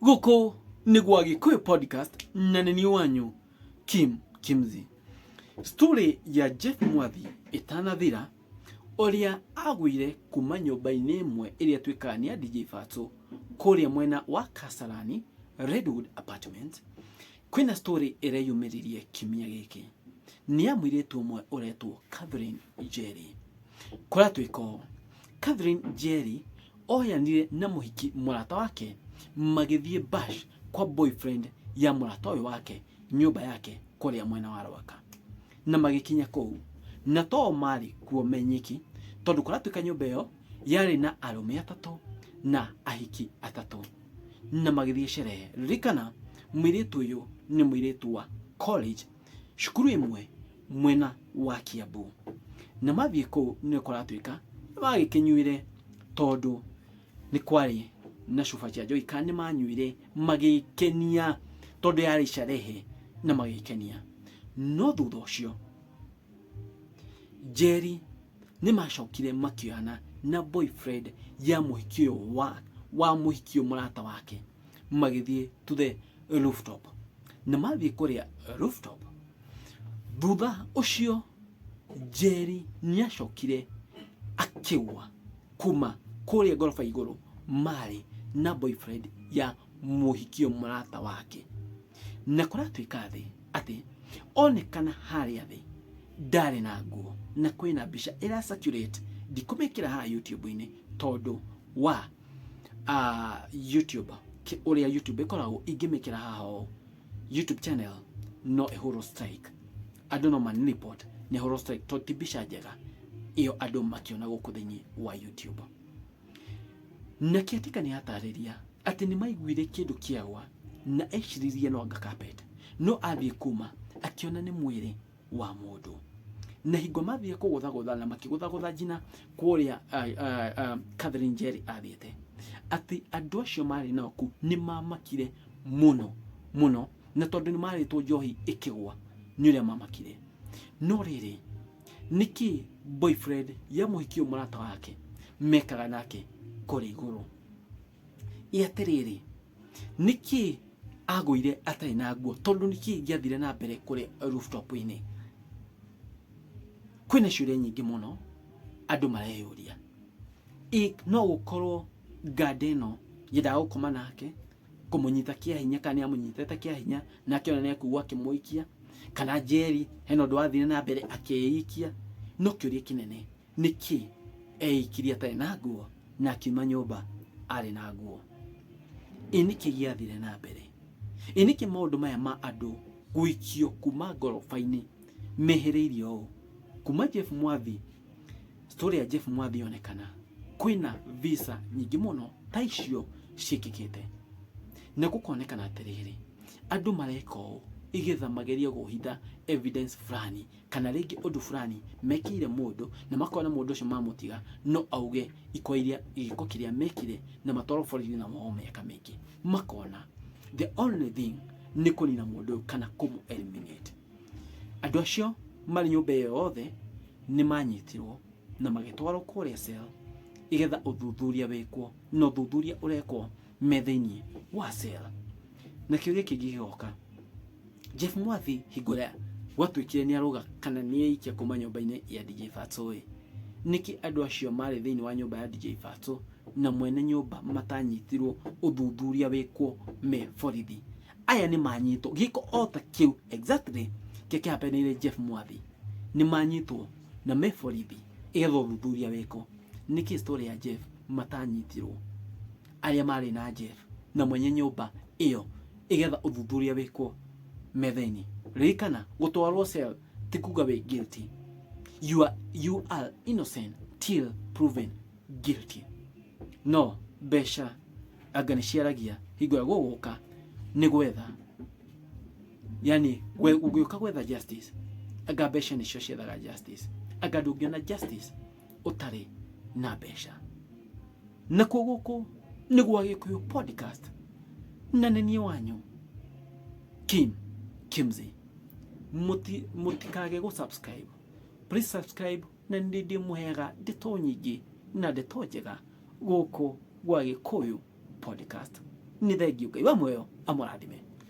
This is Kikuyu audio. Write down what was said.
Gũkũ nĩ gwa Gĩkũyũ podcast na nĩ niĩ wanyu Kim Kimzi. Story ya Jeff Mwathi ĩtanathira ũrĩa agũire kuma nyũmba-inĩ ĩmwe ĩrĩa twĩkaga nĩ ya DJ Fatso kũrĩa mwena wa Kasarani Redwood Apartment Kwĩna story ĩreyumĩririe kiumia gĩkĩ nĩ ya mũirĩtu ũmwe ũretwo Catherine Njeri. Kũratuĩka ũũ, Catherine Njeri oyanire na mũhiki mũrata wake magĩthiĩ bash kwa boyfriend ya mũrata ũyũ wake nyũmba yake kũrĩa mwena wa Rwaka. Na magĩkinya kũu na to o marĩ kuo me nyiki tondũ kũratuĩka nyũmba ĩyo yarĩ na arũme atatũ na ahiki atatũ. na magĩthiĩ sherehe ririkana mwĩirĩtu ũyũ nĩ mwĩirĩtu wa college cukuru ĩmwe mwena wa kiambu na mathiĩ kũu nĩ kũratuĩka nĩ magĩkĩnyuire tondũ nĩ kwarĩ na cuba cia njohi kana nĩ manyuire magĩkenia tondũ yarĩ sherehe na magĩkenia no thutha ũcio njeri nĩ macokire makĩoyana na boyfriend ya mũhiki ũyũ wa wa mũhiki ũyũ mũrata wake magĩthiĩ to the rooftop na mathiĩ kũrĩa rooftop thutha ũcio Njeri nĩacokire akĩgwa kuma kũrĩa ngoroba igũrũ marĩ na boyfriend ya mũhiki ũyũ mũrata wake na kũratuĩka thĩ atĩ onekana harĩa thĩ ndarĩ na nguo na kwĩna mbica ĩra circulate ndikũmĩkĩra haha YouTube-inĩ tondũ wa uh, YouTube ki- ũrĩa YouTube ĩkoragwo ingĩmĩkĩra haha ũũ YouTube channel no ĩhũrwo strike andũ no man report nĩ ĩhũrwo strike tondũ ti mbica njega ĩyo andũ makĩona gũkũ thĩinĩ wa YouTube Na kĩatika nĩ atarĩria atĩ nĩ maiguire kĩndũ kĩagwa na eciririe no anga carpet. No athiĩ kuma akĩona nĩ mwĩrĩ wa mũndũ. Na hingo mathiĩ kũgũthagũtha na makĩgũthagũtha njina kũrĩa Catherine Njeri athiĩte, atĩ andũ acio marĩ nao kũu nĩ mamakire mũno mũno na tondũ nĩ marĩtwo njohi ĩkĩgwa nĩ ũrĩa mamakire. No rĩrĩ... niki boyfriend ya muhiki uyu murata wake mekaga nake kuri iguru iatiriri niki agwire atari na nguo tondu niki ingiathire na mbere kuri rooftop ini kwina ciuria nyingi muno andu mareyuria I- no gukorwo nganda ino yendaga gukoma nake kũmũnyita kĩa hinya kana nĩ amũnyitĩte kĩa hinya na akĩona nĩ akũgwa akĩmũikia kana njeri hena ũndũ wathire na mbere akĩikia no kĩũria kĩnene nĩ kĩ eikirie atarĩ na nguo na akiuma nyũmba arĩ na nguo ĩ nĩ kĩ gĩathire na mbere ĩ nĩ kĩ maũndũ maya ma andũ gũikio kuma ngoroba-inĩ mehĩrĩirie ũũ kuma Jeff Mwathi story ya Jeff Mwathi yonekana kwina visa nyingĩ mũno ta icio ciĩkĩkĩte na gũkonekana atĩrĩrĩ andũ mareka ũũ igetha magerie kũhitha evidence fulani kana rĩngĩ ũndũ fulani mekĩire mũndũ na makona mũndũ ũcio mamũtiga no auge iko iria gĩko kĩrĩa mekire na matwarwo borithi na mohwo mĩaka mĩingĩ makona the only thing nĩ kũnina mũndũ ũyũ kana kũmũ eliminate Andũ acio marĩ nyũmba ĩyo yothe nĩ manyitirwo na magĩtwarwo kũrĩa cell nĩ getha ũthuthuria wĩkwo, na ũthuthuria ũrekwo me thĩiniĩ wa cell. Na kĩũria kĩngĩ gĩgoka, Jeff Mwathi hingo ĩrĩa gwatuĩkire nĩ arũga kana nĩ aikia kuma nyũmba-inĩ ya DJ Fatso ĩ, nĩkĩ andũ acio marĩ thĩiniĩ wa nyũmba ya DJ Fatso na mwene nyũmba matanyitirwo ũthuthuria wĩkwo me borithi? aya nĩ manyitwo gĩko o ta kĩu exactly kĩrĩa kĩhapeneire Jeff Mwathi nĩ manyitwo na me borithi ĩgetha ũthuthuria wĩkwo nĩkĩ story ya Jeff matanyitirwo arĩa marĩ na Jeff na mwenye nyũmba ĩyo ĩgetha ũthuthuria wĩkwo metha-inĩ ririkana gũtwarwo cell ti kuga wĩ guilty you are, you are innocent till proven guilty no mbeca anga nĩ ciaragia hingo ya gũgũka nĩ gwetha yani we- ũgĩũka gwetha justice anga mbeca nĩcio ciethaga justice anga ndũngĩona justice ũtarĩ na mbeca nakuo gũkũ nĩ gwa gĩkũyũ podcast na nĩ niĩ wanyu kim kimsey Muti- mutikage gũsubscribe please subscribe Na nĩ ndĩmũheaga ndeto nyingĩ na ndeto njega gũkũ gwa Gĩkũyũ Podcast. Nĩ thengiũ Ngai wa muoyo amũrathime.